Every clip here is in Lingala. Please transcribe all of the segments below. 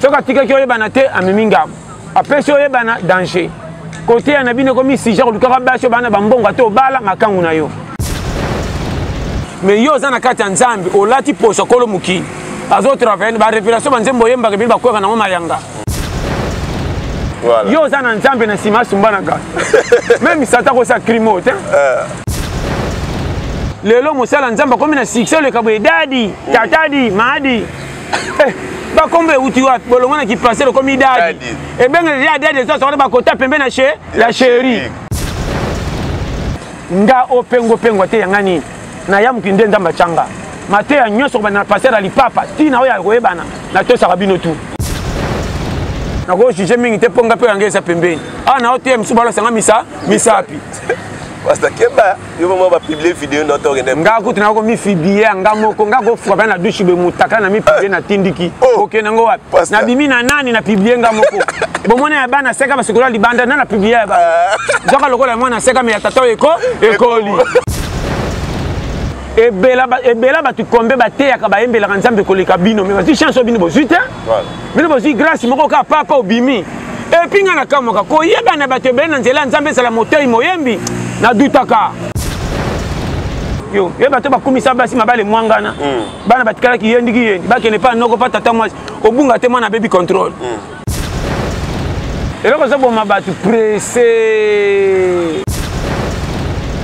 soki atikaki oyebana te amemi ngambo apesi oyebana danger koteya na bino ekomi sija kolukaka basi obana bambongo ata obala makangu na yo me yo oza na kati ya nzambe olati poso kolo mokili azotravaille barevelation banzembo oyembaka bino bakweka nango mayanga yo oza na nzambe na nsima asumbanaka meme sata kosa crimo te eh. lelo mosala nzambe akomi na succès oleka boye dadi tatadi madi eh, bakombo euti wapi bolongo na kipase lokomi dadi ebengele deja dadi eza sokona bakota pembe na che ya sheri nga opengopengwa te yanga nini nayamuki nde nzambe atyanga mateya nyonso kobanda na paster ya lipapa ntina oyo akoyebana natosaka bino tu nakojuge mingi te mpo nga mpe yanga eza pembeni awa ah, na oteya misu balosanga misa misapi yo mama ba publier video na to kende nga kutu na ko mi publier nga moko nga ko frappe na douche be mutaka na mi publier na tindiki oh. ok na ngo wapi na bimi na nani na publier nga moko bomona ya bana seka basikola libanda na na publier ya ba nzoka lokola mwana seka me ya tata eko ekoli ebela ebela bato kombe bateyaka bayembelaka nzambe koleka bino me bazwi chance oyo bino bozwi te bino bozwi grâce moko kaka papa obimi epuis ngai nakamwaka koyebana bato ebele na nzela ya nzambe ezala motei moyembi nadutaka yo ye bato bakumisa basi mabale mwangana mm. bana batikalaki ye ndiki yendi bakende mpa noko mpa tata mwasi obunga te mwana abebi contrôle mm. eloko ezoboma bato presse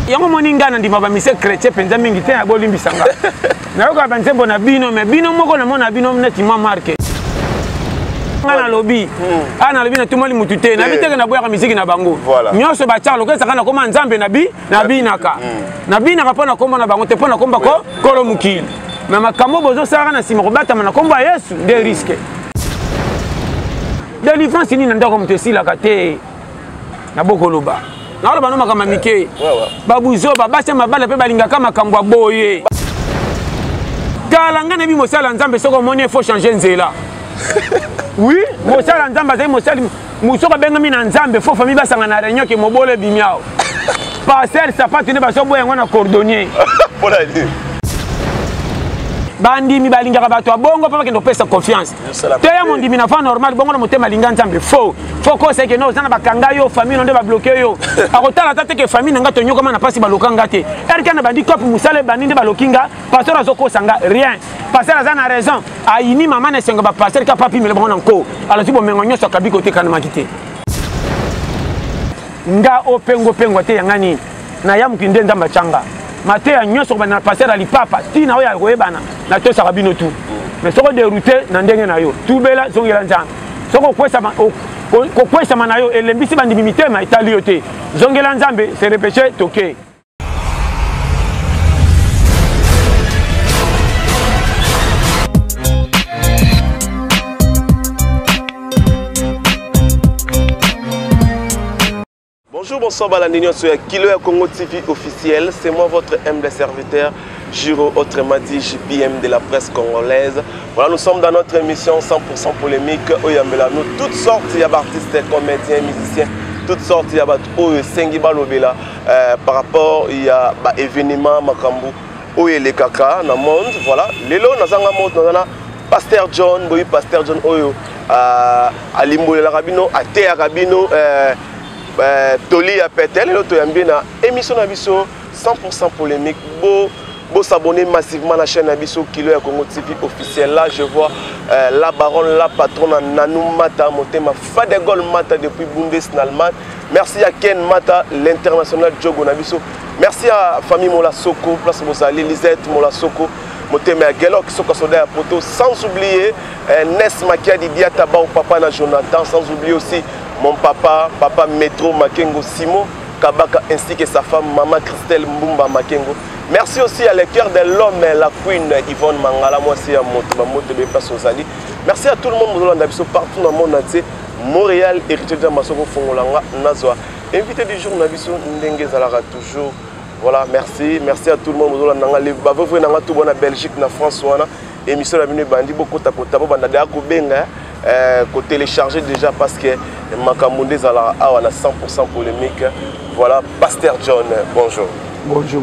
yango moni ngai nandima bamise chrétien mpenza mingi te abolimbisa ngai nayokaka banzembo na bino me bino moko namona bino neti mwa marke nga nalobi hmm. a ah, nalobi natumoli motu te nayebi eh. teke naboyaka miziki na bango nyonso batiaka lokola esaka nakoma nzambe nabi nabinaka hmm. nabinaka mpo nakoma na bango te mpo nakomba ko kolo mokili me makambo bozosalaka na nsima kobatama na nkombo ya yesu nde riske delivrance nini na ndako moto esilaka te na bokoloba naoloba no makambo ya mike babuzoba basi ya mabala mpe balingaka makambo ya boye tala ngai nayebi mosala ya nzambe soki omoni efo change nzela wi mosala ya nzambe azali mosali mosoko abengami na nzambe fo famille basanga na réunion ke mobolo ebimi awa pasel sapatu nde bazoboya yango na cordonnier bandimi balingaka bato ya bongo mpo bakende kopesa confiance te ya mondimi na fa normal bongo na motema alinga nzambe fo fo kosa ke no oza na bakanga yo famille no nde babloke yo akotala ata te ke famille na nga tonyokama na mpasi baloka nga te erke na bandi cope mosala ebandi nde baloki nga pasteur azokosa nga rien pasteur aza na raison ayini mama na esengo bapasteur ka papi mele bango na nko alati bomengo nyonso akabi kotekanamaki te nga opengopengwa te yanga nini na ya mokili nde nzambe atyanga mateya nyonso kobanda na paster ya lipapa ntina oyo ya koyebana natosaka bino tu mais soko deroute na ndenge na yo tubela zongela nzambe soko okwesama kokwesama na yo elembisi bandimi mitema etali yo te zongela nzambe se repeche toke Bonjour, bonsoir balandi nyonso ya Kilo ya Congo TV officiel. C'est moi votre humble serviteur Giro autrement dit JPM de la presse congolaise. Voilà, nous sommes dans notre émission 100% polémique où il y a toutes sortes d'artistes, comédiens, musiciens, toutes sortes de bato oyo esengi balobela euh, par rapport ya baévénement makambo oyo elekaka na monde voilà lelo nazanga mot naza na pasteur john boyebi pasteur john oyo euh, alimbolelaka bino ateyaka bino euh, euh, toli ya pete lelo toyambi na émission na biso 100 polémique bo Vous s'abonnez massivement à la chaîne Abisso Kilo et Congo TV officiel. Là, je vois euh, la baronne, la patronne Nanou Mata, Motema Fadegol Mata depuis Bundes en Allemagne. Merci à Ken Mata, l'international Djogo Nabisso. merci à famille mola soko place mozali lisette mola soko motema ya gelok soka soda ya poto sans oublier eh, nes makiadi diata bao papa na jonathan sans oublier aussi mon papa papa metro makengo simon kabaka ainsi que sa femme mama christelle mbumba makengo merci aussi à le cœur de l'homme la queen yvonne mangala mwasi ya moto bamoto be place ozali merci à tout le monde mozolanda biso partout na monde na tie montréal héritier de masoko fongola nga nazwa Invité du jour na biso ndenge ezalaka toujours voilà merci merci à tout le monde bozolanda nga bavevre na nga tout bona belgique na france wana émission na bino ebandi bokota kota bobanda deya kobenga euh, kotélécharge déjà parce que makambo nde ezalaka awa na 100 polémique voilà pasteur john bonjour bonjour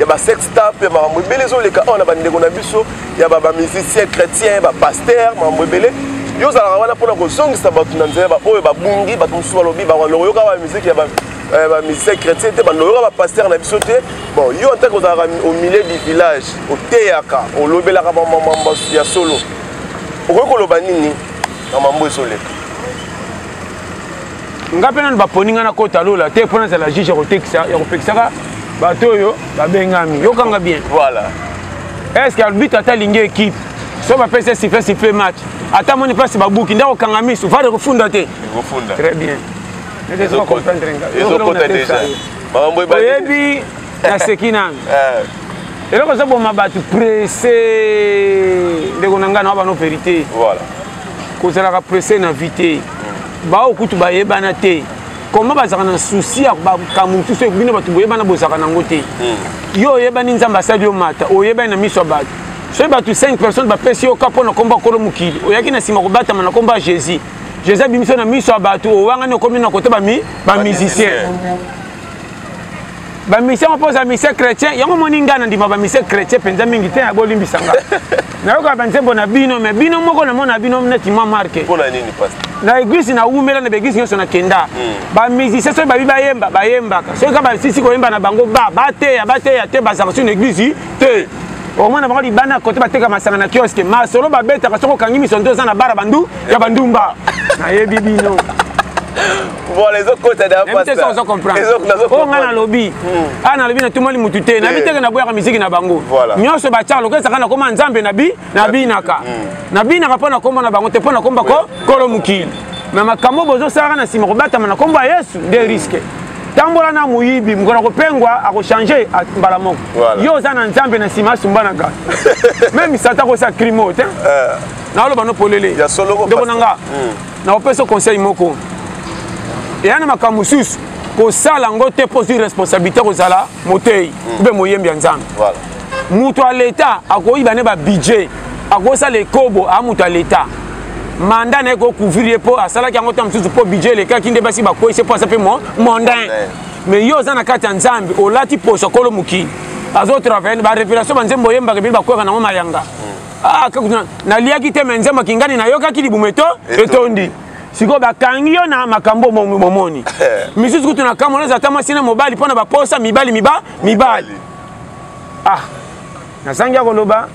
ya ba sex tap ya makambo ebele ezoleka awa na bandeko na biso ya bamusicien chrétien bapaster makambo ebele yo ozalaka wana mpona kozongisa bato na nzela baoyo babungi bato mosusu balobi baoyoka bamusike ya eh, bamusicien chrétien te bandoyoka bapaster na biso te bon yo ntake ozalaka au milieu du village oteyaka olobelaka bamamambo ya solo okoki koloba nini na mambo ezoleka nga mpe nanu baponi nga nakota lola te mpo nazala juge ya kotekisa ya kopekisaka bato oyo babengami yokanga bien voilà est ce que arbitre ata alingi équipe so bapesi esifle sifle match ata moni mpasi babuki nde akokanga miso vare kofunda te très bien oyebi naseki nanu eh. eloko ezoboma bato presse ndeko na ngai na wa bano verité kozalaka presse na vie te baoyo kutu bayebana te koma bazalaka na susi ya makambo mosusu bino bato boyebana bozalaka nango te hmm. yo oyebani nzambe asali yo mata oyebani na miso ya bato soki bato 5 personnes bapesi yo ka mpo na nkombo ya kolo mokili oyaki na nsima kobatama na nkombo ya jésus jésus abimisi yo na miso ya bato owangani okomi na kote bamusicien ba mission yango mpo oza mission chrétien yango omoni ngai nandima ba mission chrétien mpenza mingi te ya bolimbisa nga nayoka banzembo na bino me bino moko namona bino neti ma marke na eglise nawumela na baeglise nyonso nakenda hmm. bamusicien soki babi bayemba bayembaka soki ka basisi koyemba na bango ba bateya bateya te bazaka soki na eglise te omona bango libanda ya kote bateka masanga na kioske masolo babetaka soki okangi miso nto oza na bara bandu ya bandumba nayebi bino Voilà, ils ont côté d'un pasteur. Ils ont compris. Ils ont compris. Oh, on a lobby. Ah, na lobby na tout le monde mututé. Na bité na boya musique na bango. Voilà. Nyo se ba charlo, kesa kana koma nzambe na bi, na bi naka. Na bi naka pona koma na bango, te pona komba ko kolo mukili. Mais makambo bozo sara na sima kobata na komba Yesu, des risques. tambola na moyibi mokolo akopengwa akochange mbala moko yo oza na nzambe na nsima asumbanaka meme sata akosa crime oyo te eh. naoloba no polele ndeko na nga hmm. nakopesa conseil moko eya na makambo mosusu kosala yango te mpo ozwi responsabilité kozala motei hmm. mpe moyembi ya nzambe moto ya leta akoyiba ne babudget akosala ekobo a moto ya leta manda na ye kocouvrir ye mpo asalaki yango ntango mosusu mpo budget elekaki nde basi bakwesi mpo asape mondain mais yo oza na kati ya nzambe olati poso akolo mokili azotravaille barevelation banzembo oyembaka bino bakweka nango mayanga ah, naliaki te me nzembo kingani nayokaki libumu eto etondi sikoyo bakangi yo na makambo momoni misusu kutu na kamona eza ata mwasi na mobali mpo na baposa mibali miba mibali ah nazangi ya koloba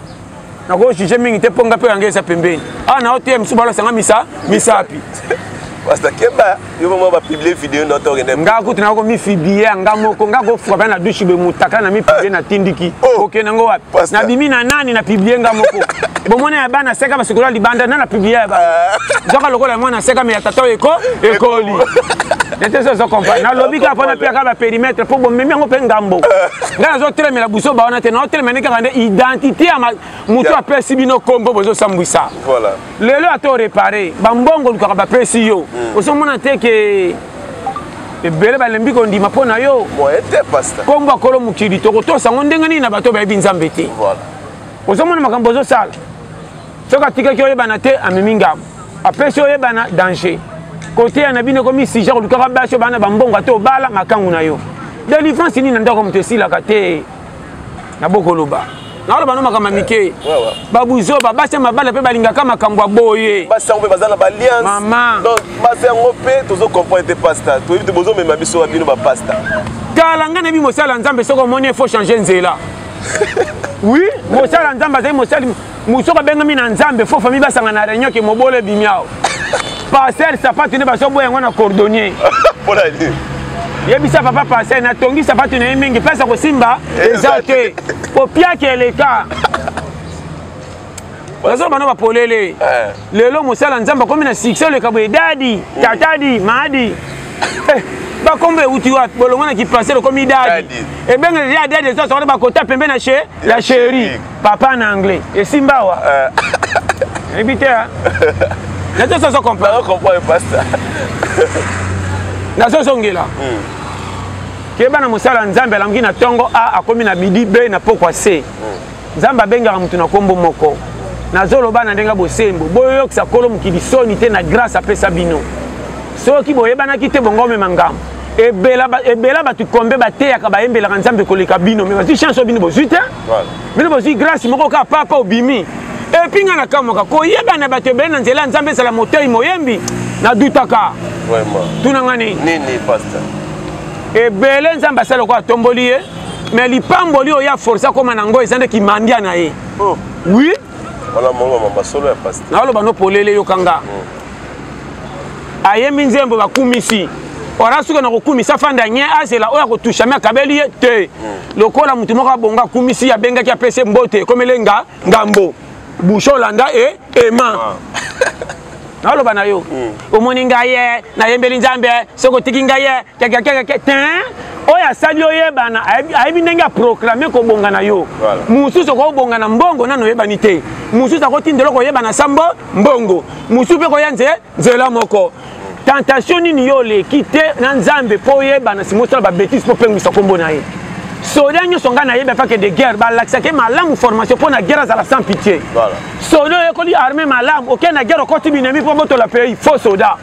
nakojuge mingi te mpo nga mpe yange eza pembeni awa ah, na ote mosusu balosanga misa misapi yo mama ba publier video na to kende nga kutu na ko mi publier nga moko nga ko frappe na douche be mutaka na mi publier na tindiki oh. ok na ngo wapi na bimi na nani na publier nga moko bomona ya bana seka basikola libanda na na publier ya ba zoka lokola mwana seka me ya tata eko ekoli nete so zo comprendre na lobi ka pona pia ka ba périmètre pour bo memi ngo pe ngambo nga na zo telemela buso ba wana te na telemela kaka nde identité ya mutu apesi bino kombo bozo sambwisa voilà lelo ata orepare bambongo olukaka bapesi yo hmm. ozomona te ke ebele balembi kondima mpo na yo kombo akolo mokili tokotosa yango ndenge nini na bato bayebi nzambe te ozomona makambo ozosala soki atikaki oyebana te amemi ngambo apesi oyebana danger koteya na bino ekomi sija kolukaka basi obana bambongo ata obala makangu na yo delivrance nini na ndako moto esilaka te na bokoloba naoloba no makambo ya mike babuzoba basi ya mabala mpe balingaka makambo ya boye basi yango mpe baza na baliansmama donc basi yango mpe tozo comprendre te pasta toyebi te bozomema biso ya bino bapasta tala ngai nayebi mosala nzambe soki omoni efo change nzela wi mosala nzambe azali mosali musoko abengami na nzambe fo famille basanga na réunion ke mobolo ebimi awa parcelle sapatu nde bazoboya yango na cordonnier yebisa papa parcelle natongi sapatu na ye mingi place ya kosimba eza te kopiaki eleka bazo bana bapolele eh. lelo mosala nzambe akomi na succès oleka boye dadi mm. tatadi maadi eh, bakombo euti wapi bolongo na kiparsele okomi dadi ebengeli ya dadi ezo asokana bakota pembe na la cherie papa na anglais esimba awa ebi te nazo soso comprendre pasta nazo zongela hmm. keba na mosala nzambe alamuki na ntongo a akomi na bidi b na pokwa c hmm. nzambe abengaka moto na nkombo moko nazoloba na ndenge bosembo boyokisa kolo mokili soni te na grâce apesa bino soki boyebanaki te bongo omema ngambo ebela ebela bato kombe bateyaka bayembelaka nzambe koleka bino me bazwi chance oyo bino bozwi te bino bozwi grace moko kaka papa obimi epuis ngai nakamwaka koyeba na bato ebele na nzela ya nzambe ezala motei moyembi nadutaka tuna ngai nini ebele nzambe asala lokola atomboli ye me lipamboli oyo ya force akoma na yango eza nde kimandia na ye oh. oui naloba no polele yoka nga hmm. ayembi nzembo bakumisi wana soki na kokumisa fanda ah, nye azela oyo akotushami akabeli ye te hmm. lokola moto moko abonga akumisi abengaki apesi mbote ekomele nga ngambo bushe olanda e ema ah. naloba na yo hmm. omoni ngai ye nayembeli nzambe soki otiki ngai ye kekekekeke te oyo asali oyebana ayebi ndenge aproclame kobonga na yo mosusu okobonga na mbongo nano oyebani te mosusu akotinda eloko oyebana sambo mbongo mosusu mpe koya nze nzela moko tentation nini yo oleki te na nzambe mpo oyebana simosala babetise mpo opengwisa nkombo na ye soda nyonso ngai nayebi afake de guerre balakisaki malamu formation mpo na guerre azala sans pitié soda oyekoli armée malamu okei na guerre okoti binemi mpo botola pays faux soda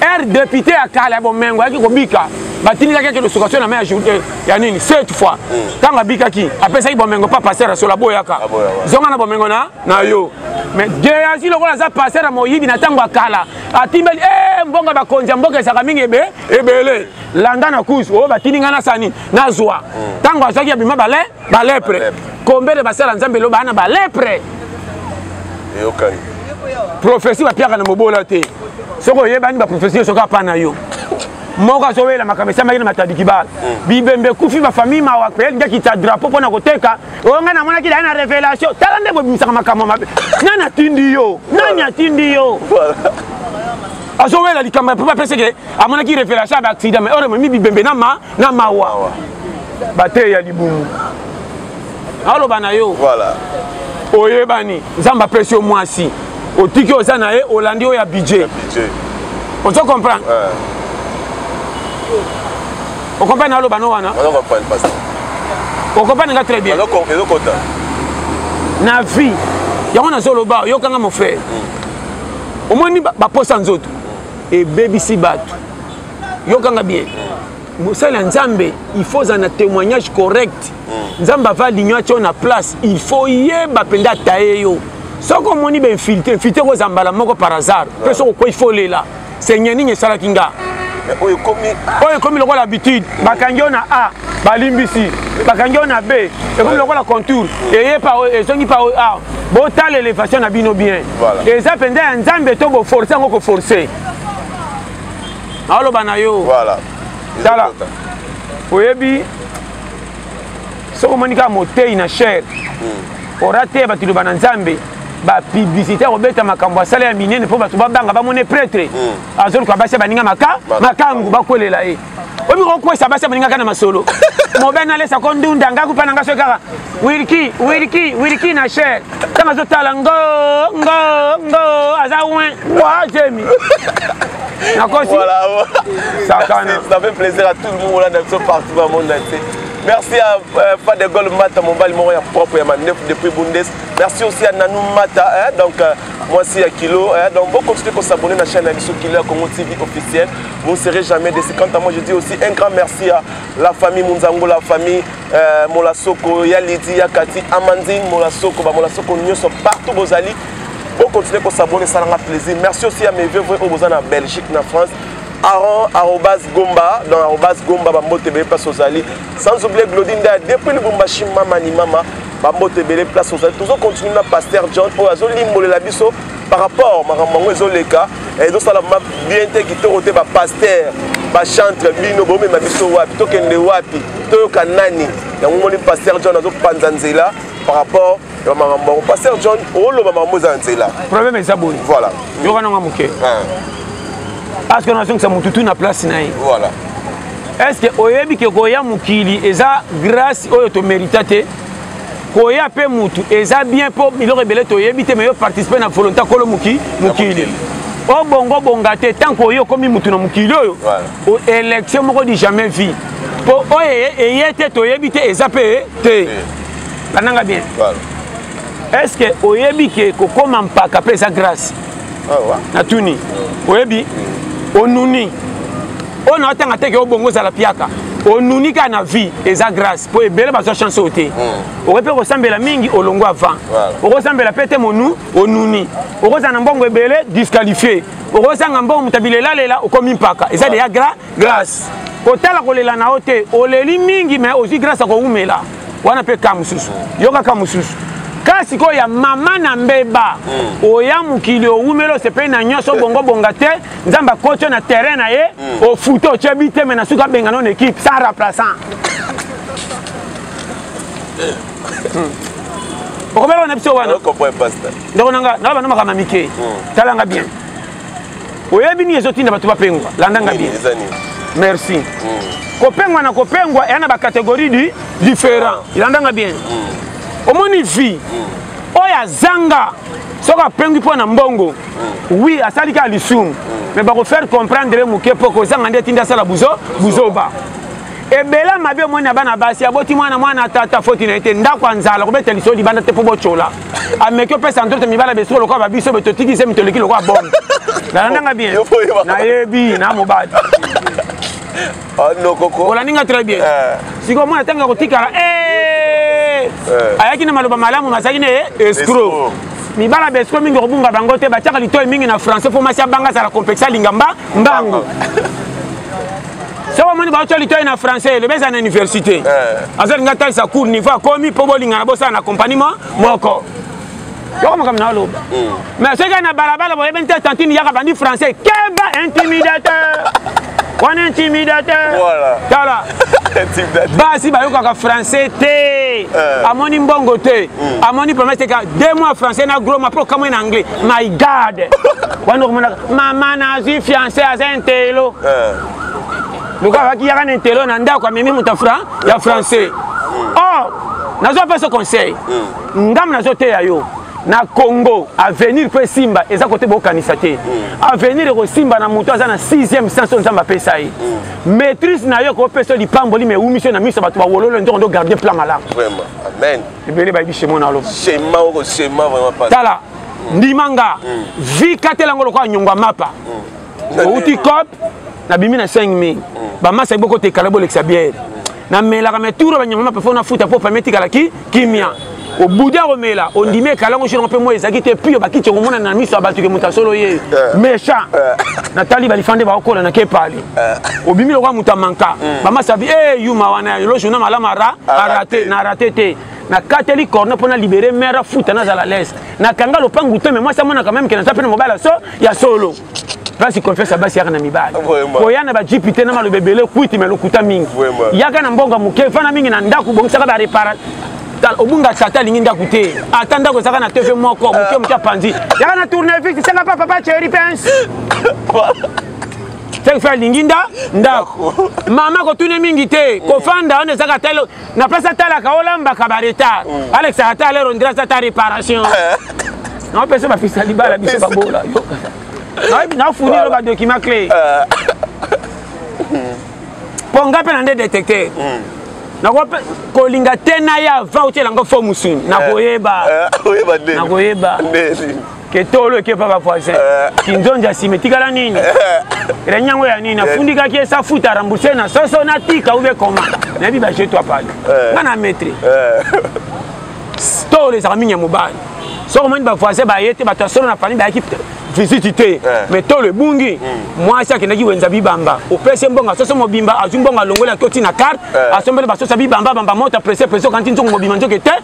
ere depute ya kala ya bomengo ayaki kobika batindikaki ake losukaso na mai ya jour eh, ya nini cette fois ntango abikaki apesaki bomengo mpa paster asola boyaka zonga na bomengo na na yo mais geasi lokola aza paster ya moyibi na ntango ya kala atimbeli e eh, mbongo bakonzi ya mboka ezalaka mingi ebe ebele landa na kusu oyo batindi ngai nasani nazwa ntango azwaki abima bale balepre kombele basala nzambe eloba na balepre eyokani profesi bapiaka na mobola te soki oyebani baprofesi soki apa na yo moko azowela makambo esamaki na matadiki bala mm. bibembe ekufi bafamille mawa mpe elingaki ta drapeau mpo na koteka oyo ngai namonaki dai na révélation tala nde bobimisaka makambo mabe nani atindi yo nani atindi yo azowela likambo ya mpo bapeseke amonaki révélation ya baaccident mai ore momi bibembe na ma na mawa bateyi ya libumu aloba na yo voilà. oyebani nzambe apesi yo mwasi otiki oza na ye olandi oyo ya budget ozo comprendre yeah. okomprendre naloba no wana okomprendre nga très bien na vie yango nazoloba oyokanga mofrere mm. omoni baposa nzoto ebebisi bato yokanga bien mosali ya nzambe il faut ozala na témoignage correct hmm. nzambe ava ligno atyo na place il faut yeba mpenza ataye yo soki omoni bainfiltre infiltre kozala mbala moko par hasard mpe soki okwei fo olela seigneur nini esalaki nga oyo ekomi lokola habitude bakangi yo na a balimbisi bakangi yo na b ekomi lokola contour eye pa ezongi pa a botala elevation na bino bien eza mpenza ya nzambe to boforce yango koforce naoloba na yo voilà tala oyebi soki omoni kaka motei na chere hmm. orateya bato iloba na nzambe bapiblisité ya kobeta makambo asala ya minene mpo bato babanga bamone pretre hmm. azoluka basi ya baninga maka makangu bakwelela ye oyebi kokwesa basi ya baninga kaka na masolo mobene alesa ko ndunda ngai kupa na ngai soki kaka wilki wilki wilki na chere ntango azotala ngo ngo ngo aza win wa jemi nakosi voilà. sakana ça fait plaisir à tout le monde olanda biso partout na monde entier merci à euh, pas de gol mata mobali moko ya propre ya mandefu depuis bundes merci aussi à nanou mata hein, donc euh, mwasi ya kilo hein, donc bon continuez qu'on s'abonner na chaîne ya biso kilo ya congo tv officiel vous ne serez jamais déçu quant à moi je dis aussi un grand merci à la famille munzango la famille Euh, molasoko ya lidi ya kati amandine molasoko bamolasoko nyonso partout bozali bokontinue kosabone esalanga plaisir merci aussi ya mevie vrai oyo boza na belgique na france aron arobas gomba donc arobas gomba bambote ebele place ozali sans oublier glodi ndaya depuis lubumbashi mama ni mama bambote ebele place ozali tozokontinue na paster john oyo azolimbolela biso par rapport makambo yango ezoleka eh, ezosala bien te kitoko te bapaster bachantre bino bomema biso wapi tokende wapi toyoka nani yango moni paster john azopanza nzela par rapport ya makambo yango paster john oloba makambo eza na nzela problème eza boye voilà yoka nanga moke parce que nazongisa motu tu na place na ye voilà est ce que oyebi ke koya mokili eza grâce oyo tomerita te koya mpe mutu eza bien mpo biloko ebele toyebi te mais yo participe na volonté kolo mokili obongo bonga te ntango oyo okomi motu na mokili oyo élection moko di jamais vie mpo oyo eye te toyebi te eza mpe te lananga bien est ce que oyebi ke kokoma mpaka mpe eza grâce ah, natuni oyebi onuni oyo na otanga teke obongo ozala piaka onuni kaka na vie eza grâce mpo ebele bazwa chance oyo te hmm. okoki mpe kosambela mingi olongo avant okosambela mpe te monu onuni okozala na mbongo ebele disqualifie okozanga mbongo moto abila elalela okomi mpaka eza deya gra grace kotala kolela na yo te oleli mingi me ozwi grace ya kowumela wana mpe ka mosusu yoka ka mosusu ka sikoyo ya mama na mbeba mm. oya mokili owumeli osepeli na nyonso bongobonga te nzambe akoti yo na terrain na ye mm. ofuta otye biteme na suka abengana na équipe sans remplaçant okomela wana biso wana ndeko nanga nalaba na makambo mike mm. talanga bien oyebi nini ezotinda bato bapengwa landa nga bien merci mm. kopengwa na kopengwa eya na bacatégorie du différent landa nga bien mm. omoni vie mm. oyo azanga soki apengwi mpo na mbongo wi asali kaka lisumu me bakofaire comprendre moke mpo kozanga nde etinda asala buzo buzoba ebela mabe omoni na bana basi aboti mwana mwana tata foti na ye te ndako ya nzala kobeta liso libanda te mpo botyola ameki opesa ntoto mibala besiko lokola babiso be totiki se mitoleki lokola bombe nalandanga bien nayebi na mobali ah, olandi nga très bien eh. sikoyo mwana ntango ya kotikala eh. Eh. ayaki na maloba malamu mazalaki na ye escro mibala besiko mingi okobunga bango te batiaka litoi mingi na français mpo masi abanga azala complexe alinga mba mbango soki omoni baotya litoi na français elobi eza na université eh. aza linga talisa cour niveau akomi mpo bolingana bosala na compagnie mo moko yoko makambo na oloba hmm. mais soki ya na balabala boyebeni te tantine yaka bandi français keba intimidateur wana intimidateur tala basi bayokaka français te eh. amoni mbongo te hmm. amoni promese teka deux mois français na gros ma mpo okamwe na anglais my god wana okomonaka mama nazwi fiancé aza intelo eh. lokola abaki yaka na intelo na ndako amemi moto ya français hmm. or nazwa mpe so conseil hmm. ngambo nazoteya yo na congo avenir mpo esimba eza kote bokanisa te hmm. avenir ekosimba na moto aza na 6e sens oyo nzambe apesa ye maîtrise na yo ekopesa yo lipamboli ma ewumisi yo na miso ya bato bawololo nzoko ndo garde plan malamu ebele bayebi shemo na aloba tala ndima nga vi katela yango lokola nyongo ya mapa outi cop nabimi na 5 mai mm. bamasa boko tekala bolekisa biere namelaka me tour banyama mape fo nafuta mpo pame etikala ki kimia obuda komela ondimi ekala yango sino mpe moi ezalaki te pio bakiti okomona na miso ya bato ke moto ya solo ye eh. mecha eh. natali balifande baokola na kepale eh. obimi lokola moto ya manka hmm. bamasabi e yuma wana lojourna malama ra arate na rate te nakateli corne mpo na libere mare afuta nazala lese nakanga lopangu te me mwasi amonaka meme ke naza mpe na mobali so ya solo place confiance ya basi yaka na mibali koya na bajipi te na maloba ebele kwiti me lokuta mingi yaka na mbongo moke fana mingi na ndako bongisaka barepara obunga tata alingi ndako te ata ndako ezaka na tv moko moke moke apanzi yaka na tournevis senga pa papa cheri pence seki fe alingi nda ndako mama kotune mingi te kofanda wana ezaka talo na place atalaka olambaka ba retard mm. alekisaka ata alero ndira aza ata réparation naopesa bapesa libala biso babola nafunilo badocument clé euh. mpo nga mpe na nde détecteur mm. nakolinga te naya va otyela ngo fo mosuni nakoyeba euh, nakoyeba ketolo eke paka voisin kinzonzi ya sima etikala nini reni yango ya nini afundikaki esa futa rembourse na soso natika ube koma nayebi baje to apali nga na maître tolo ezalaka mingi ya mobali soki omoni bavoisin baye te bato ya solo na fani bayaki visite te mais tolo ebungi mwasi akendaki wenza bibamba opesi mbongo soso mobimba azwi mbongo alongoli atotina carte asombeli basosa bibamba bamba mota presse presse okanti nzongo mobimba nzoke te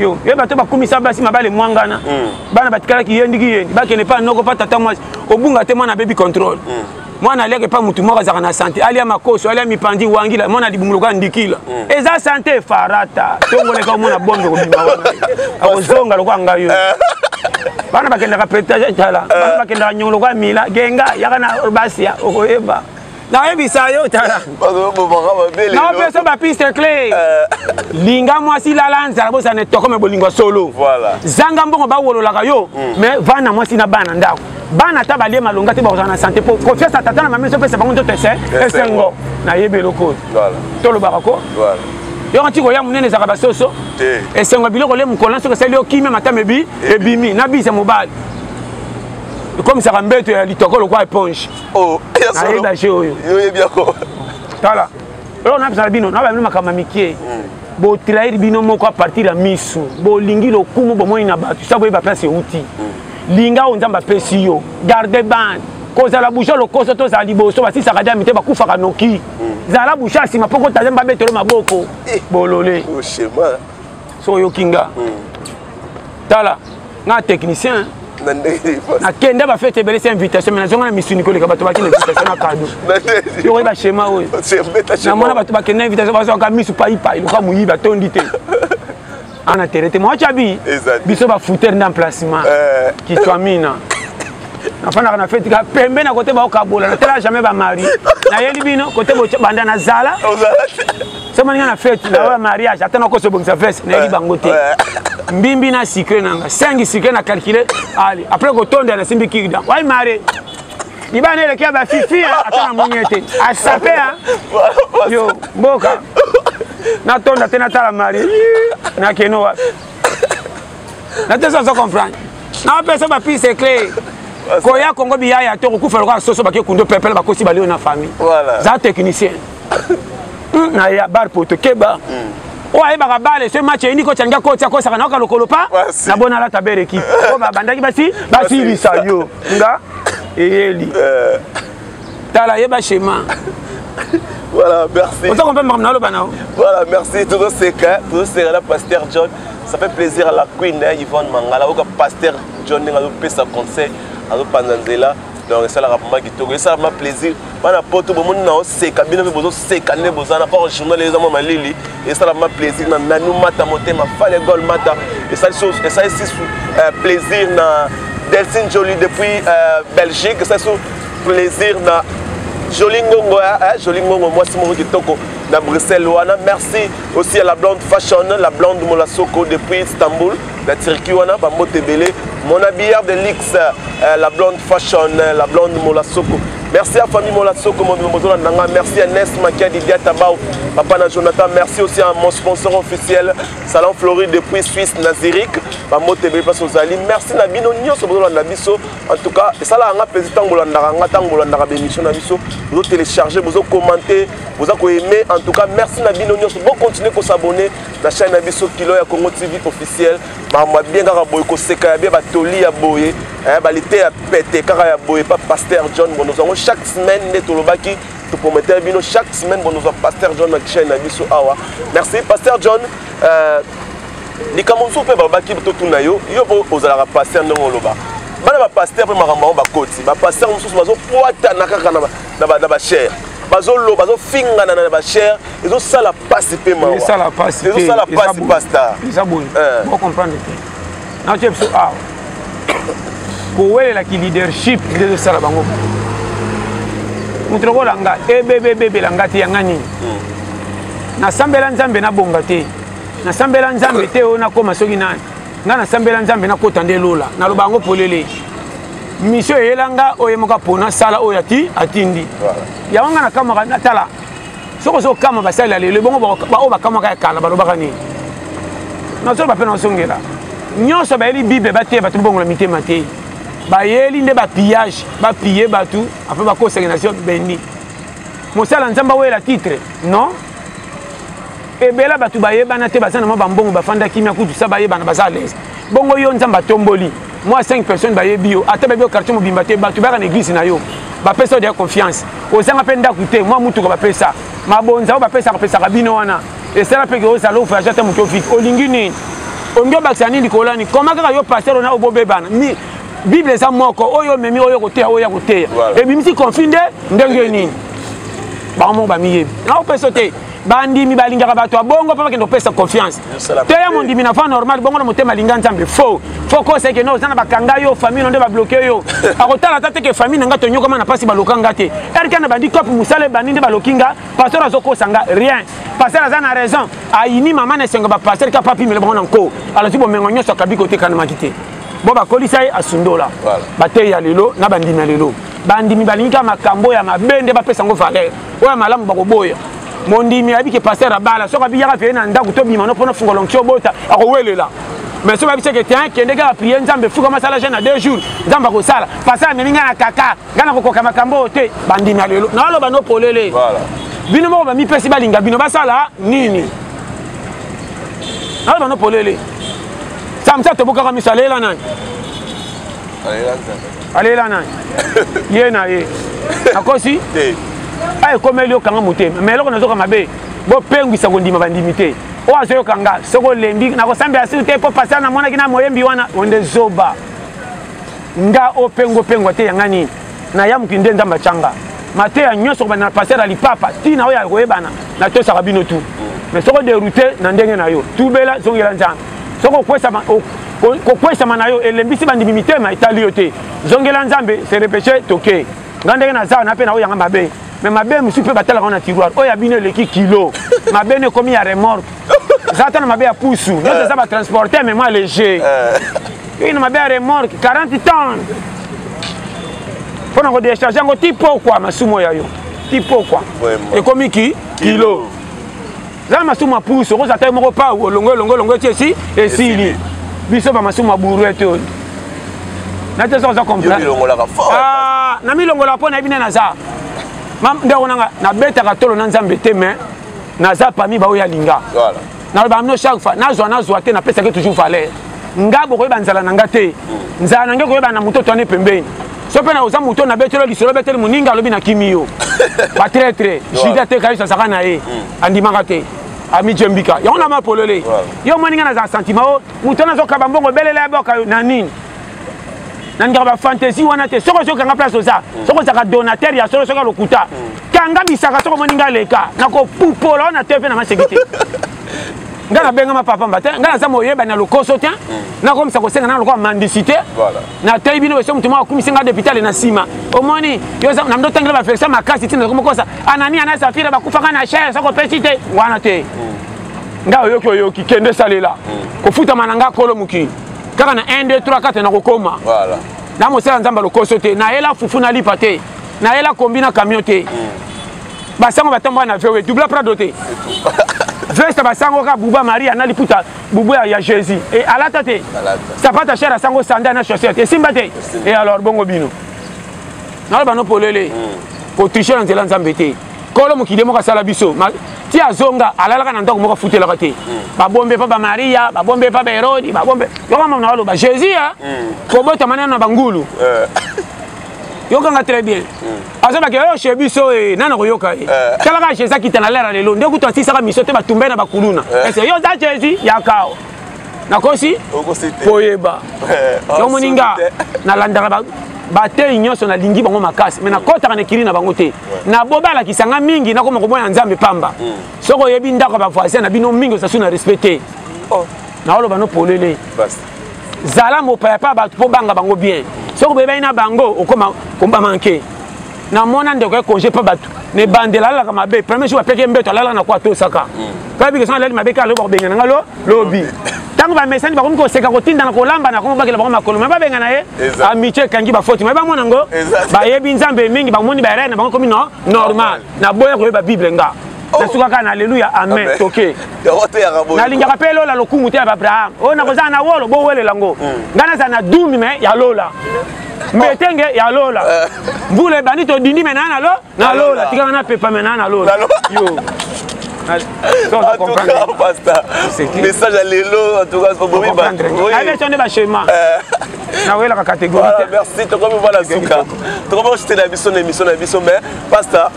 yo ye bato bakumisa basi mabale mwangana hmm. bana batikalaki yendiki yendi bakende mpa noko mpa tata mwasi obunga te mwana abebi contrôle hmm. mwana aliaka epa motu moko azalaka na sante alia makoso alia mipandi wangila mwana libunguluka ndikila hmm. eza sante farata tongoleka omona bombe kobima wana akozonga lokola ngai yo eh. bana bakendaka petage tala bana eh. bakendaka nyongo lokola mila genga yaka na basia okoyeba nayebisa yo tala naopesa bapiste cle eh. linga mwasi lala nzala bosana etokome bolingo ya solo zanga mbongo bawololaka yo hmm. mais vana na mwasi na bana ndako bana ata balie malonga te bakozala na sante mpo confiance ya tata na mama ezopesa bango nzoto ese esengo nayebi eloko oyo tolobaka ko yoko nti koya monene ezalaka basoso esengo ya biloko le mokolo na soki esali yo kimia matama ebi ebimi na bisa mobali ekomisaka mbeto ya litoko lokwa eponge oh ya solo ayebi age oyo yo yebi yako tala eloko nabisala bino nabala bino makambo ya mikie hmm. botrahir bino moko a partir ya misu bolingi lokumu bomoni na bato sa boyeba place euti hmm. linga oyo nzambe apesi yo garde bande kozala busha lokoso tozala liboso basisaka dami te bakufaka noki hmm. zala busha nsima mpo kotaza mba betolo maboko eh. bolole soki oyoki nga hmm. tala nga technicien nakenda bafete ebele se invitation me nazonga na misuni koleka bato bakenda invitation na kado yokoyi bashema oyo namona bato bakenda invitation bazwaka misu paipai loka moyibi atondi te ana tere te mwacha bi biso bafoutere nde emplacement eh. kitwamina nafandaka na feti ka pembe na kote baokabola natala jamais bamari nayeli bino kote banda nazala so maninga na fete na oya mariage ata nakoso bongisa veste nayebi bango te mbimbi na sucre nanga 5 sucre na calcule ali après kotonda nasimbi kirda wai mare libana eleki ya bafifi ata na moni ete asape yo mboka natonda te natala mari nakeno wapi natesa ozo comprendre napesa bapise cle koya kongo biyaya to kokufa lokola soso bake kundo pepele bakosi balio na famille za technicien hmm, na ya bar poto keba mm. oyo ayebaka bale soki match eyini kotya lingi akotya akosaka nayoka lokolo pa na bona alata bere ekipe oyo babandaki basi basilisa yo nga eyeli eh. tala yeba shema voilà merci oza kompe makambo naloba nao voilà merci tozoseka tozoseka na pasteur john ça fait plaisir à la queen hein, yvonne mangala oyoka pasteur john ndenge azopesa conseil azopanza nzela donc esalaka vraimen kitoko esala vraimen plaisir bana poto bomoni na oseka bino mpe bozoseka nde boza na or journal eza mwa malili esala vraimen plaisir na nanu mata motema fale gol mata esali sisu euh, plaisir na delcine jolie depuis euh, belgique esali sisu plaisir na jolie ngongo eh, eh, jolie ngongo mwasi moko kitoko na bruxelles wana merci aussi à la blonde fashion la blonde molasoko depuis istanbul na turquie wana bambote ebele mona billard de lix euh, la blonde fashion euh, la blonde molasoko merci à famille molasoko mobimba bozolanda nga merci à nes makiadi diatabao papa na jonathan merci aussi à mon sponsor officiel salon floride depuis suisse na zurich bambote ebele mpasi ozali merci na bino nyonso bozolanda biso en tout cas esalaka nga mpenza ntango bolandaka nga ntango bolandaka baémission na biso bozotélécharge bozokommente boza koaime en tout cas merci na bino nyonso bocontinue kosabonne na chaîne na biso kilo ya congo tv officiel makambo ya bien kaka boye koseka ya bien batoli ya boye eh, balite ya pete kaka ya boye pa pasteur john bonozo yango chaque semaine nde tolobaki toprometele bino chaque semaine bonozo pasteur john na chaîne na biso awa merci pasteur john euh, likambo mosusu mpe balobaki totuna yo yo mpo ozalaka pasteur ndenge oloba bana bapaster mpe makambo yango bakoti bapaster mosusu bazokwatana kaka na bachere bazofingana na bachere ezosala pasi mpe mawa esala pasi te esala pasi pasta eza boye eh. bo comprendre te na tie biso awa kowelela ki leadership nde ezosala bango moto lokola nga ebebebebela nga te yanga nini hmm. nasambela nzambe nabonga te nasambela nzambe te oyo nakoma soki nani nga nasambela nzambe nakota nde lola naloba yango polele misio eyela nga oyemoka mpo nasala oyo atindi yango nga nakamaka natala soki ozokama basali ya lelo ebongo baoyo bakamwaka ya kala balobaka nini nazoloba mpe nazongela nyonso bayeli bible bateya bato bongola mitema te bayeli nde bapillage bapiye bato apres bakosaki na zio beni mosala nzambe awela titre non ebela bato bayebana te baza na mwa bambongo bafanda kimia kutu sa bayebana baza alaise bongo yo nzambe atomboli mwa 5 personnes bayebi yo ata bayebi yo quartier mobimba te bato bayaka na eglise na yo bapesa yo deya confiance ozanga mpe ndako te mwa motuka bapesa mabonza oyo bapesaka pesaka bino wana esala mpe ke ozala ovoyage ata moto ofiki olingi nini olingi obakisa nini likolo ani koma kaka yo paster ona obobebana bible eza moko oyo omemi oyo koteya oyo ya koteya ebimisi conflit nde ndenge nini bango moko bamiyebi naopesa te bandimi balingaka bato ya bongo mpo bakende kopesa confiance te ya mondimi na fa normal bongo na motema alinga nzambe faux fo kosa ekende oza na bakanga yo famille no nde babloke yo akotala ata teke famille na nga tonyokama na mpasi baloka nga te erika na bandi cope mosala ebandi nde baloki nga pasteur azokosa nga rien pasteur aza na raison ayini mama na esengo bapasteur ka papimele bango na nko alozwi bomengo nyonso akabi kotekanamaki te bo bakolisa ye asundola bateyi ya lelo na bandimi ya lelo bandimi balingi kaka makambo ya mabe nde bapesa yango valeur oyo ya malamu bakoboya mondimi ayebi ke paster abala soki abiyaka peye na ndako tobima no mpona fungola nkisi obota akowelela mais soki babisa ke tin kende kaka prie nzambe fuka masala jeune na deux jours nzambe akosala paster amemi ngai na kaka ngai nakokoka makambo oyo te bandimi ya lelo naoloba no polele bino moko bamipesi balinga bino basala nini naoloba no polele samsa tobukaka miso alela nani alela nani ye na ye akosi a ekomeli okanga motema ma eloko nazoka mabe bopengwisa kondima bandimi te oyo azoyoka nga soki olembi nakosambela sur te mpo pasteur namonaki na moyembi wana onde zoba nga opengo pengwa te yanga nini naya mokili nde nzambe atyanga mateya nyonso kobanda na pasteur ya lipapa ntina oyo ya koyebana natosaka bino tu mais soki oderoute na ndenge na yo tubela zongela nzambe soki okwesama kokwesama na yo elembisi bandimi mitema etali yo te zongela nzambe se repeche toke nga ndenge naza na mpe na oyo yanga mabe me mabe mosusu mpe batalaka ngo na tiroir oyo ya bino eleki kilo mabe no ekomi ya remorque eza ata na mabe ya pusu nyonso eza batransporte me mwa léger oyo na mabe ya remorque 40 temps mpo na kodecharge yango ti pokwa masumu oyo ya yo ti pokwa ekomi ki kilo zala masumu ya pusu okozala ta yo moko pau olongo elongo elongo eti esi esili biso bamasumu ya buruete oyo nati oza oza comprnamilongolaka ah, mpo nayebi nde naza ndeko nanga nabetaka tolo na nzambe te mais naza pami baoyo alinga naloba mino chaque fois nazwa nazwa te napesaki toujours valeur nga bokoyeba nzala na nga te nzala na nge koyeba na moto toane pembeni so mpe na oza moto na betelo lisolo beteli moninga alobi na kimi yo batretre juda te kayusu azaka na ye mm. andimaka te amije mbika yango na mapolole yo omoni nga nazala sentiment o moto wana azokaba mbongo belela ya boka na nini nandika bafantaisie wana te soki ozokanga place oza mm. soki ozalaka donateur ya solo soki alokuta mm. kanga bisaka soki omoni nga leka nakopupola wana te mpe na maseki te ngai nabengama papa mba te ngai naza moyebani ya lokoso te hmm. nakomisa kosenga nanga lokola mandisite nateyi bino beso motu moko akumisi ngai depitale na nsima omoni na mdo tangela bafektio makasi ntina nakomokosa anania na safira bakufaka na chere soko pesi te wana te hmm. ngai oyoki oyoki kende salela hmm. kofutama na ngai kolo mokili kaka na 1 2 3 4 nakokoma na mosala nzambe lokoso te nayela fufu na lipa te nayela kombi na camion te basango batambola na vewe dubla prado te veste basango kaka buba maria na liputa bubu ya jésus e alata te sapata chere asango sanda na chaussette esimba te e alors bongo bino naloba no polele hmm. kotriche na nzela nzambe te kolo mokili moko asala biso ti azonga alalaka na ndako moko afutelaka te hmm. babombe mpa bamaria babombe mpa baherodi babombe yokamama na baloba jésus a hmm. kobotama nano na bangulu eh. yokanga très bien azobaki oyo chez biso e nani akoyoka ye eh. tala kaka jésus akita na lera lelo nde kutu asisaka miso te batumbai na bakuluna eh. ese yo oza jésus yakao nakosi koyeba eh, oh, yo moninga nalandaka bateyi nyonso nalingi bango makasi mai nakotaka na ekili na bango te naboba alakisa nga mingi nakoma komona ya nzambe pamba mm. soki oyebi ndako ya bavoisin na bino mingi osasu na respect te oh. naoloba no polele zala mopaya mpa bato mpo banga bango bien soki boyebani na bango okoma kobamanke namona ndeko ya congé mpa bato na ebandela alalaka mabe premier jour apeki mbeto alalaka na kwa atosaka mpe abiki soki alali mabe kaka lobi bakobengana nga lo lobi ntango bamesani bakomi koseka kotindana kolamba na kongo bakela bango makolo me babengana ye amitie ekangi bafoti me bamona yango bayebi nzambe mingi bamoni baerere na bango komi no normal naboya koyeba bible nga oh. nasukaka na aleluya amen toke nalingaka mpe lola lokumu te ya baabraham oyo nakozala na wolo bowelela yango hmm. ngai nazala na dumi me ya lola mbetenge ya lola eh. mbula ebandi todindi me naa nalo na lola tikaka napepa me naa na lola yo message ya lelo nde bachema nawelaka catégorie merci tokomi mwana suka tokomi kosutela biso na émission na biso mais pasta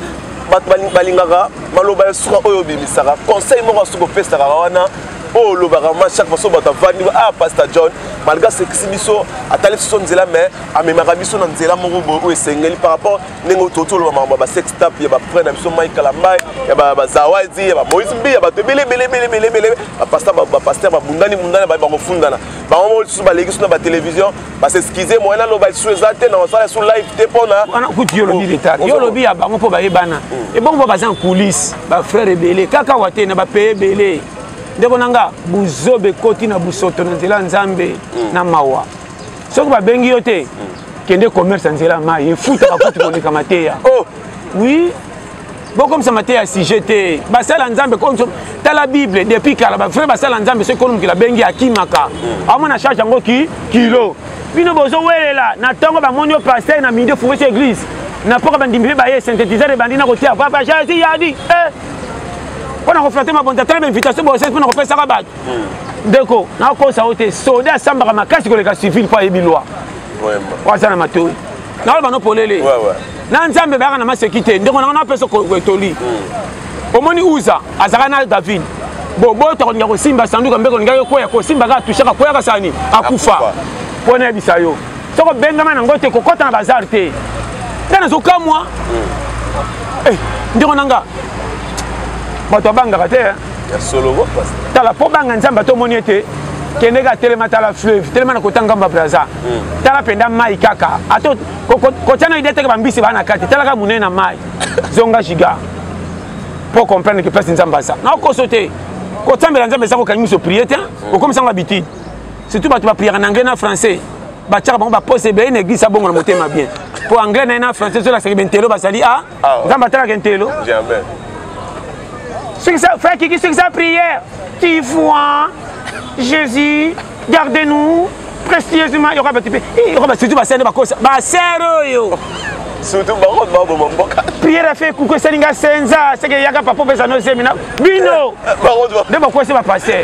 bato balingaka maloba ya suka oyo obimisaka conseil moko asuki opesaka wana oyo olobaka ma chaque façon bato avandi ah pasteur john malgré asekisi biso atali biso nzela mais amemaka biso na nzela moko boye oyo esengeli par rapport ndenge ototi oloba makambo ya basextap ya bapre na biso mai kalambai ya bazawadi ya bamoise mbi ya bato ebele ebele ebele ebele ebele bapaster babundani bundani bakofundana bango moko lisusu baleki biso na batelevizio ba s'excuser moyen naloba lisusu eza te na kosala lisusu live te mpona wana kutu yo olobi retard yo olobi ya bango mpo bayebana mm. ebongo mpo baza en coulisse bafrère ebele kaka wa te na bapaye ebele ndeko na nga buzoba ekoti na busoto na nzela ya nzambe mm. na mawa soki babengi yo te mm. kende commerce ya nzela ya mai efutaka kutu koleka mateya oh. oui bokomisa mateya ya sujet te basala nzambe tala bible depuis kala bavrai basala nzambe soki kolo mokili abengi akimaka amona charge yango ki kilo bino bozowelela na ntongo bamoni yo paster na midi ofunge so église na mpoka bandimi mpe baye synthétiseur ebandi na kotia papa jésus yadi eh. mpo na koflate mabonza tala bainvitation bosese mpo na kopesaka bato hmm. ndeko nakosa yo te soda asambaka makasi koleka civile mpo ayebi lwa aza na matoi naloba no polele na nzambe bayaka na maseki te ndeko nanga napesa etoli hmm. omoni uza azalaka na david boboto akolinga kosimba sanduka mpe kolingaki koya kosimba kaka tushaka koyaka sani akufa mpo nayebisa yo soko bengama nango te kokɔta na bazar te ngai nazokamwa hmm. eh, ndeko na nga bato abangaka te tala mpo banga nzambe atomoni ete kendeke atelema tala fleuve telema na kota ngamba braza hmm. tala mpenza mai kaka ata kotya na idee teke bambisi baa na kati tala kaka monene na mai zonga giga mpo comprendre ke place nzambe aza naokoso te kotambela nzambe eza kokangi miso prie te hmm. okomisa yango habitude surtout bato bapriere na anglais na français batyaka bango bapose ebele na eglise abongo na motema bien mpo anglais na ye na français ezolakisaki bentelo bazali a ah, Ah, nzambe atalaka ntelo frère kiki soki sa prière qui voit jésus garde nous précieusement yoka bato mpe yoka ba surtout basere nde bakosa basere oyo surtout bango baboma mboka prière afe ekuku esali nga senza seke eyaka papa opesa no zemi na bino nde bakosi bapaster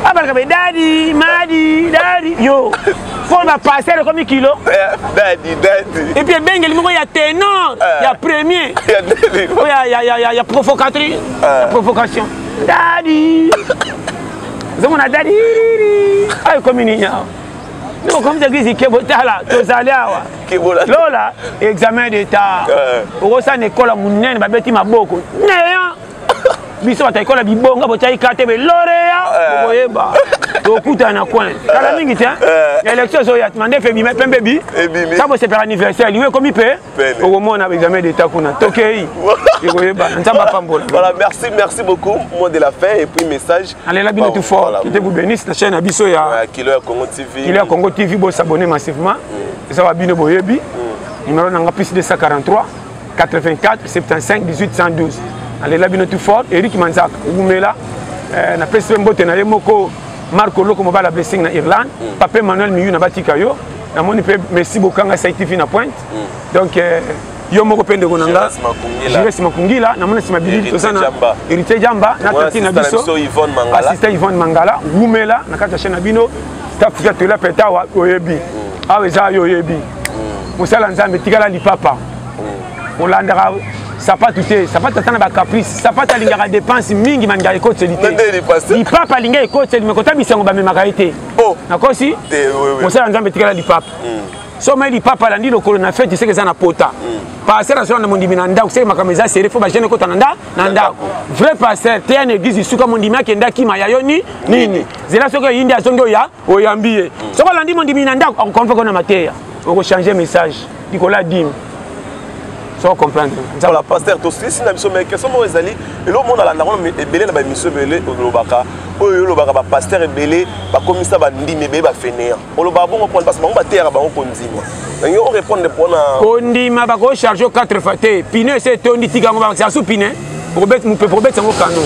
abalaka be dadi madi dadi yo mpo na passer ekomi kilo epuis ebengeli moko ya tenor eh. ya premier ya provocatrice ya provocation eh. dadi ozomona dadi ayo ekomi nini awa okomisa eglise kebo tala tozali awa lola examen d'état eh. okosana ekola monene babeti maboko neya biso bato ekola bibonga botyaki kate beloreya eh. boyeba tokuta na coin kala eh. mingi te eh. élection ezoya tima nde mpe bima pembe bi sa bosepela anniversaire liwe ekomi mpe okomona examen d'état kuna tokei ekoyebana nzambe apambola voilà merci merci beaucoup mot de la fin et puis message alela bino tout fort kite vous bénisse na chaîne ya biso ya kilo ya congo tv kilo ya congo tv bosabonne massivement mm. eza ba bino boyebi mm. numéro nanga plus 243 84 75 18 112 nalela bino tout fort eric manzaka wumela eh, napesi mpe mbote na ye moko marco loko mobala blessing na irlande mm. pape manuel miyu na batika yo namoni mpe messi bokanga saitv na pointe mm. donc eh, yo moko mpe ndeko na nga jires makungila namona nsima bilili toza na héritier jamba na tati na biso assistant yvonne mangala wumela na kati ya chaine na bino staff ya tola petawa oyebi mm. awa eza yo oyebi mosala nzambe tikala lipapa olandaka sapatu te sapatu ata na bacaprice sapatu alingaka dépense mingi malingaka ekoteli te lipapa alinga ekoteli me kota bisango bamemaka ye te oh. nakosi mosala nzambe etikala lipapa hmm. somai lipapa alandi lokolo na feti seke eza na pota hmm. pasteur azwa na mondimi na ndako seke makambo eza sere fo bagene ekota na nda na ndako vrai pasteur teya na eglise lisuka mondimi akenda kima ya yo ni nini zela soki oyindi azongi oya oyambi ye mm. soki olandi mondimi na ndako akokompe kona mateya okochange message likolo ya dime so comprendre voilà pasteur tosilisi na biso mais question moko ezali eloko moko nalanda ngo ebele na baémission ebele olobaka oyo olobaka bapasteur ebele bakomisa bandimi ebele bafeneya olobaka bongo mpona parce bango bateyaka bango kondima nange orépondre mpona kondima bakocharge o 4 fois te pine ese etondi tika yango bakisa su pine okobeti mopepe okobeti yango kano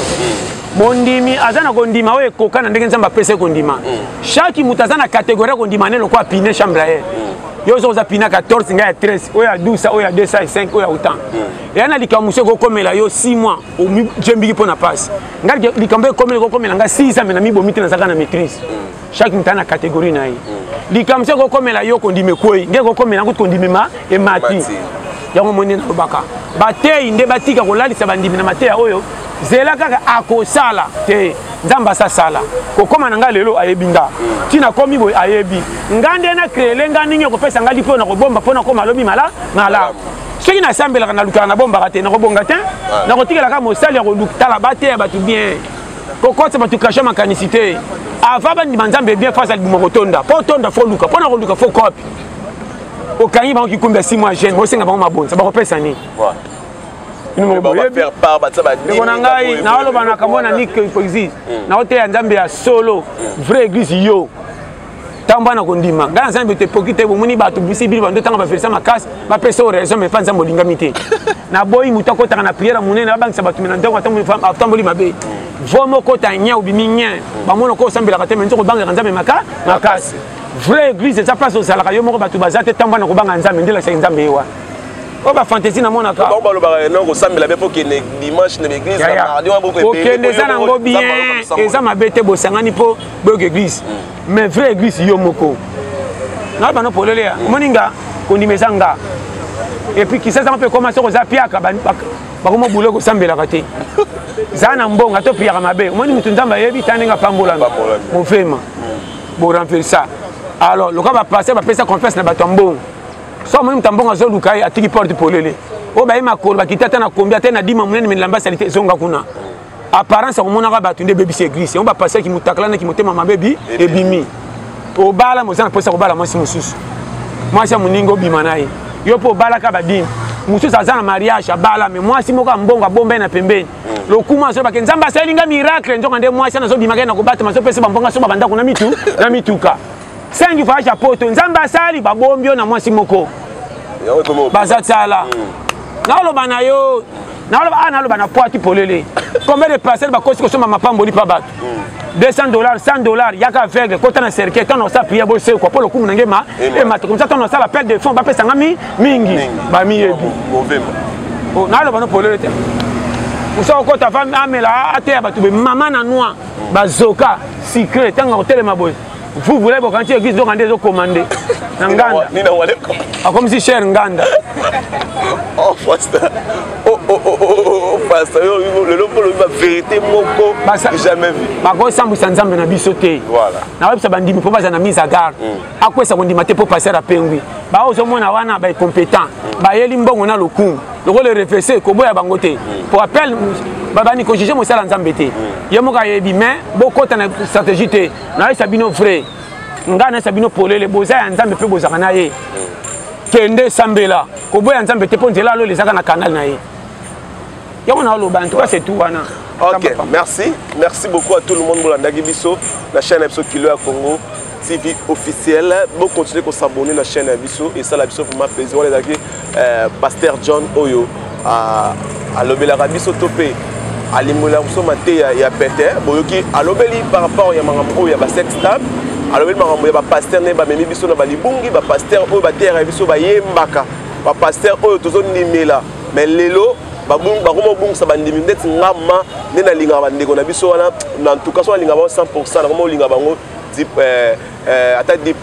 mondimi aza na kondima oyo ekoka na ndenge nzambe apesa ye kondima mm. chaque moto aza na kategori ya kondima ne lokola pine chambre ya ye mm. yo ozo oza pina 14 ngai ya 13 oyo ya 12 oyo ya 205 oyo ya autant mm. eya na likambo mosu ekokomela yo 6 mois ojembiki mpo na mpasi ngai likambo ekokomela ekokomela ngai 6 ans me na mibomi te nazalaka na maîtrise chaque moto na catégorie na ye likambo soki okomela yo kondima ekwei nde kokomela yango kondimema emati yango moni nalobaka bateyi nde batika kolalisa bandimi na mateya oyo zela kaka akosala te nzambe asasala kokóma na ngai lelo ayebi nga ntina komi boye ayebi nga nde na kreele nga ndenge okopesa ngai lipo na kobomba mpo nakoma lobi mala malamu soki nasambelaka nalukaka nabombaka te nakobonga te nakotikelaka mosali ya kotala bateya bato bien kokotisa bato kasha makanisi te avant bandima nzambe bien face alibuma kotonda mpo otonda fo oluka mpo na koluka fo kopi okangi bango kikumbi ya simo ya jeune bosenga bango mabonza bakopesa nini ndeko na ngai naoloba na kambo na nik hypocrisie naoteya nzambe ya solo hmm. vraie église yo ntango bana kondima ngai na nzambe te poki te bomoni bato bisi bino bando ntanga baverisa makasi bapesa yo raison mais mpa nzambe olingami te naboyi moto akotaka na priere monene babangisa bato me na ndako atamboli mabe vo moko ta nye obimi nye bamona ko osambelaka te me nzoko obangaka nzambe maka makasi vrai église eza place ozalaka yo moko bato baza te ntango bana kobanga nzambe nde lakisaki nzambe ye wana oyo oh, bafantaisi namonaka bango balobaka eh, non kosambela mpe pokende dimanche na baeglise na mardi wana bokokende eza nango bien eza mabe te bosangani mpo boyoka église mais vrai église yo moko na bana polele ya omoni nga kondima eza nga epuis kisasanga mpe ekoma soko oza piaka bakoma bule kosambelaka te za na mbonga to piyaka mabe omoni motu nzambe ayebi ta ndenge apambolami mofema boremplir ça alors loka bapaster bapesa confiance na bato ya mbongo so omoni moto ya mbongo azoluka ye atiki porte polele oyo baye makolo bakita ata na kombi ata na dima monene milamba salite ezonga kuna apparence ya komonaka bato nde ebebisi eglise yango bapasi ya kimotakala na kimotema mabe bi ebimi obala moza na mposa kobala mwasi mosusu mwasi ya moninga obima na ye yo mpo obalaka badini mosusu aza na mariage abala me mwasi moko ya mbongo abomba ye na pembeni mm. lokuma azobake nzambe asaleli nga miracle nzoka nde mwasi ana azobimaka ye na kobatama azopesa bambonga soba bandako na mitu na mituka sengi voyage ya poto nzambe asali babombi yo na mwasi moko baza tala mm. naoloba na yo naloba awa ah, naloba na poiti polele combien de parcelle bakosi kosomba mapamboli mpa bato 200 dollars 100 dollars yaka aveugle kota na cercueil ntango osala priere bosekwa mpo lokumu na nge ma emata komisa ntango osala appel de fond bapesa nga mingi bamiyebi oh, naloba no polele te osala okota amela ateya bato be mama na noir bazoka sucre ntango akotelema boye vous voulez bokanti église donc ande ezokoma nde na nganda akomisi cher nganda oh, oh, oh, pasta lelo mpo olobi baverité moko jamais vu bakosambwisa nzambe na biso te nakoyebisa bandimi mpo baza na mise à garde mm. akwesa kondima te mpo paster apengwi bao ozomona wana baincompétent mm. bayeli mbongo na lokumu lokola erefese koboya bango te mm. po appel babani kojuge mosala nzambe te ye moko ayebi mais bokota na stratégie te nayesa bino vrai ngai nayesa bino polele boza ya nzambe mpe bozalaka na ye kende sambela koboya nzambe te mpo nzela alola ezaka na kanal na ye yango naoloba ntuka setu wana ok merci merci beaucoup à tout le monde bolandaki biso na chaîne ya biso kilo ya congo tv officiel bocontinue kosabonne na chaîne ya biso esala biso vraiment plaisir wana ezalaki eh, pasteur john oyo ah, alobelaka biso to mpe alimbolaka biso mateya ya pete boyoki alobeli par rapport ya makambo oyo ya basex table alobeli makambo ya bapaster nde bamemi biso na balibungi bapaster oyo bateyaka biso bayembaka bapaster oyo tozondimela mais lelo bakoma kobungisa bandimi ndeti ngama nde nalingaka bandeko na biso wana na ntuka so nalingaka bango 100 pourcent nakoma kolinga bango eh, euh, ata 10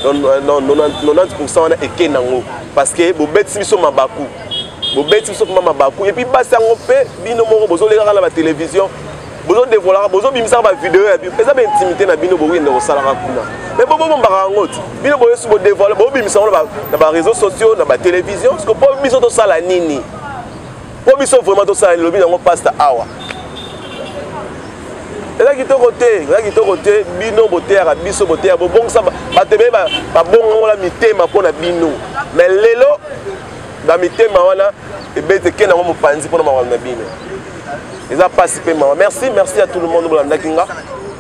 90 wana eke nango parce que bobetisi biso mabaku bobeti biso mama mabaku epuis basi yango mpe bino moko bozolekaka na batelevizio bozodevolaka bozobimisaka bavideo ya bino eza baintimité na bino bokende kosalaka kuna me bobobombaka yango ti bino boyesu bodevoile bobimisa yango na bareseau sociaux na batelevizio ceke mpo biso tosala nini po biso vraiment tosala lilobi yango pasta awa eza kitoko te eza kitoko te bino boteyaka biso boteya bobongisa bato ebele babongola mitema mpo na bino me lelo bamitema wana ebeti ekenda yango mopanzi mpo na makambo na bino eza mpasi mpe mawa merci merci ya tout le monde bolandaki nga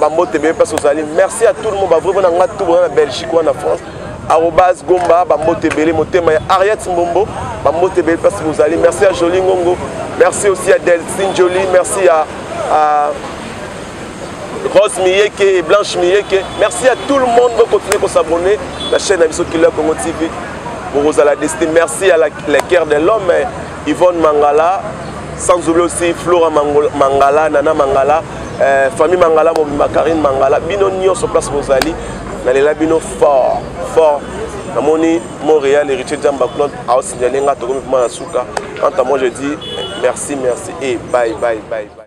bambote beye mpasi ozali merci à tout le monde bavrai mpona nga tout bona na belgique wana na france arobas gomba bambote ebele motema ya ariat mbombo bambote ebele mpasi bozali merci ya joli ngongo merci aussi ya delcine joli merci ya rose miyeke et blanche miyeke merci à tout le monde bocontinue kosabonne na chaîne na biso kilo ya congo tv bokozala destin merci ya la, la guerre de l'homme Yvonne Mangala, sans oublier aussi Flora Mangala, Nana Mangala, euh, famille Mangala, Mobimba Karine Mangala, bino nionso place bozali, nalela bino fort, fort. namoni montréal héritier jamba claude aosignale nga tokomi vraimen na suka quant à moi je dis merci merci et bye bye bye, bye.